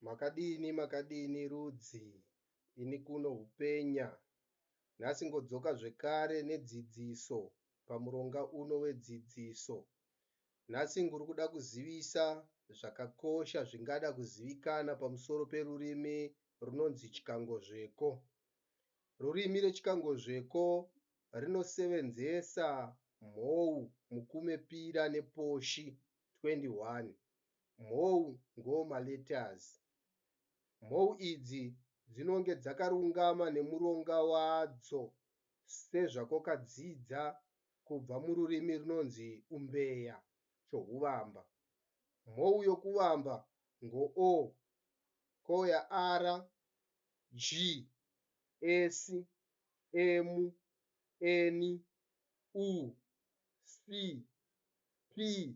Makadini makadini rudzi ini kuno hupenya nhasi ngodzoka zvekare nedzidziso pamuronga uno wedzidziso nhasi nguri kuda kuzivisa zvakakosha zvingada kuzivikana pamusoro perurimi runonzi chikangozveko rurimi rechikangozveko rinosevenzesa mhou mukume pira neposhi 21 mhou ngoma letters. Mhou idzi dzinonge dzakarungama nemuronga wadzo sezvakwakadzidza kubva mururimi runonzi Umbeya, Chohuvamba. Mhou yokuvamba ngo-o, ko ya-ara, ji, esi, emu, eni, u, si, pi,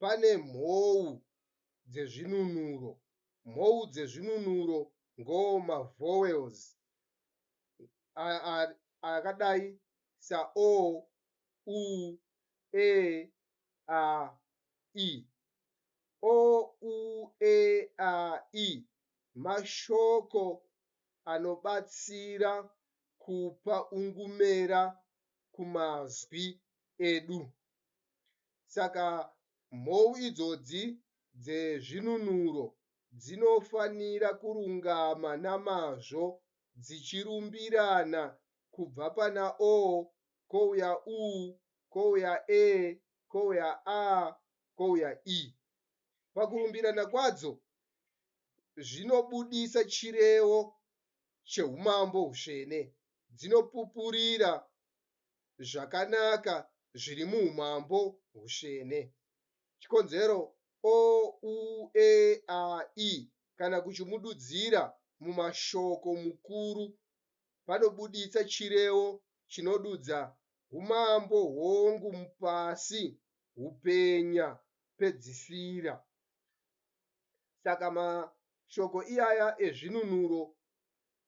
Pane mhou dzezvinunuro. Mhou dzezvinunuro ngo ma vowels akadai sa o, u, e, a, i. O, u, e, a, i mashoko anobatsira kupa ungumera kumazwi edu. Saka mhou idzodzi dzezvinunuro dzinofanira kurungama namazvo dzichirumbirana kubva pana o kouya u kouya e kouya a kouya i. Pakurumbirana kwadzo zvinobudisa chirevo cheumambo husvene, dzinopupurira zvakanaka zviri muumambo husvene. Chikonzero o, u, e, a, i kana kuchimududzira mumashoko mukuru panobuditsa chirevo chinodudza humambo hwongu mupasi hupenya pedzisira. Saka mashoko iyaya ezvinunuro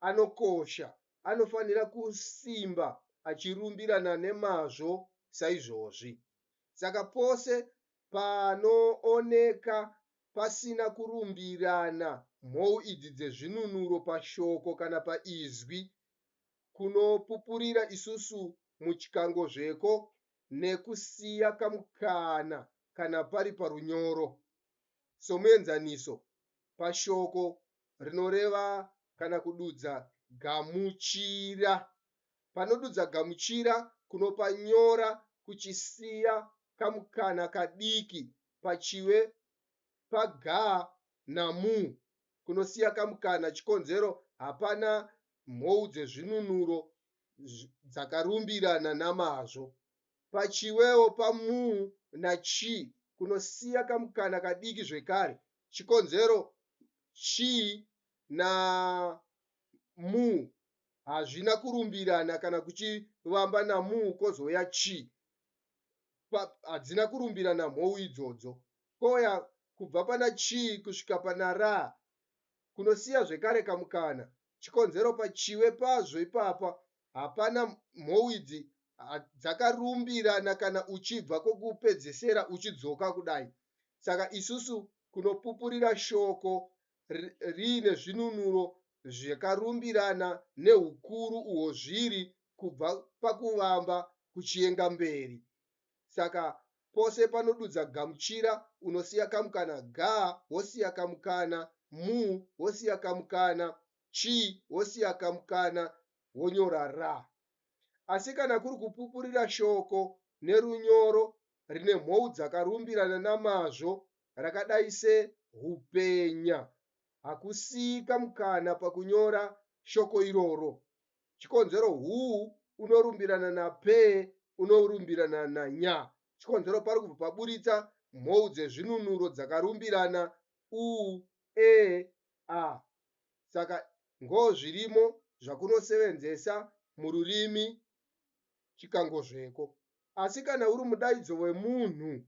anokosha anofanira kusimba achirumbirana nemazvo saizvozvi. Saka pose panooneka pasina kurumbirana mhou idzi dzezvinunuro pashoko kana paizwi kunopupurira isusu muchikangozveko nekusiya kamukana kana pari parunyoro. Somuenzaniso, pashoko rinoreva kana kududza gamuchira. Panodudza gamuchira kunopa nyora kuchisiya kamukana kadiki pachiwe pa ga na mu kunosiya kamukana chikonzero hapana mhou dzezvinunuro dzakarumbirana namazvo. Pachiwewo pa mu na chi kunosiya kamukana kadiki zvekare chikonzero chii na mu hazvina kurumbirana kana kuchivamba na mu kozouya chi pa hadzina kurumbirana mhou idzodzo koya kubva pana chi kusvika pana ra kunosiya zvekare kamukana chikonzero pachiwe pazvo ipapa hapana mhou idzi dzakarumbirana kana uchibva kokupedzesera uchidzoka kudai saka isusu kunopupurira shoko riine zvinunuro zvakarumbirana nehukuru uhwo zviri kubva pakuvamba kuchienga mberi Saka pose panodudza gamuchira unosiya kamukana ga wosiya kamukana, mu wosiya kamukana, chi wosiya kamukana wonyora ra. Asi kana kuri kupupurira shoko nerunyoro rine mhou dzakarumbirana namazvo rakadai se hupenya, hakusiyi kamukana pakunyora shoko iroro. chikonzero hu unorumbirana na pe unorumbirana na nya. Chikonzero pari kubva paburitsa mhou dzezvinunuro dzakarumbirana u, e, a. Saka ngo zvirimo zvakunosevenzesa mururimi chikangozveko. Asi kana uri mudaidzo wemunhu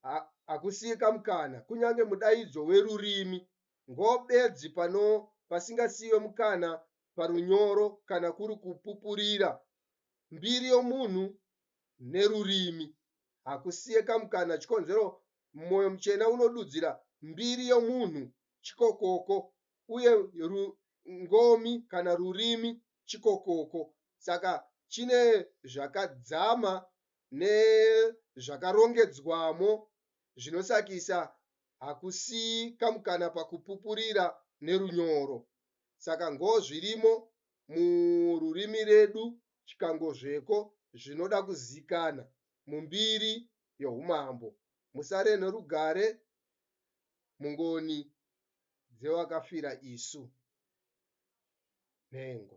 ha, hakusiye kamukana kunyange mudaidzo werurimi ngo bedzi pano pasingasiwe mukana parunyoro kana kuri kupupurira mbiri yomunhu nerurimi. Hakusiye kamukana chikonzero Mwoyo Muchena unodudzira mbiri yomunhu chikokoko uye ru, ngomi kana rurimi chikokoko. Saka chine zvakadzama nezvakarongedzwamo zvinosakisa hakusiyi kamukana pakupupurira nerunyoro saka ngoo zvirimo mururimi redu chikangozveko zvinoda kuzikana mumbiri yohumambo musare norugare mungoni dzewakafira isu nhengo.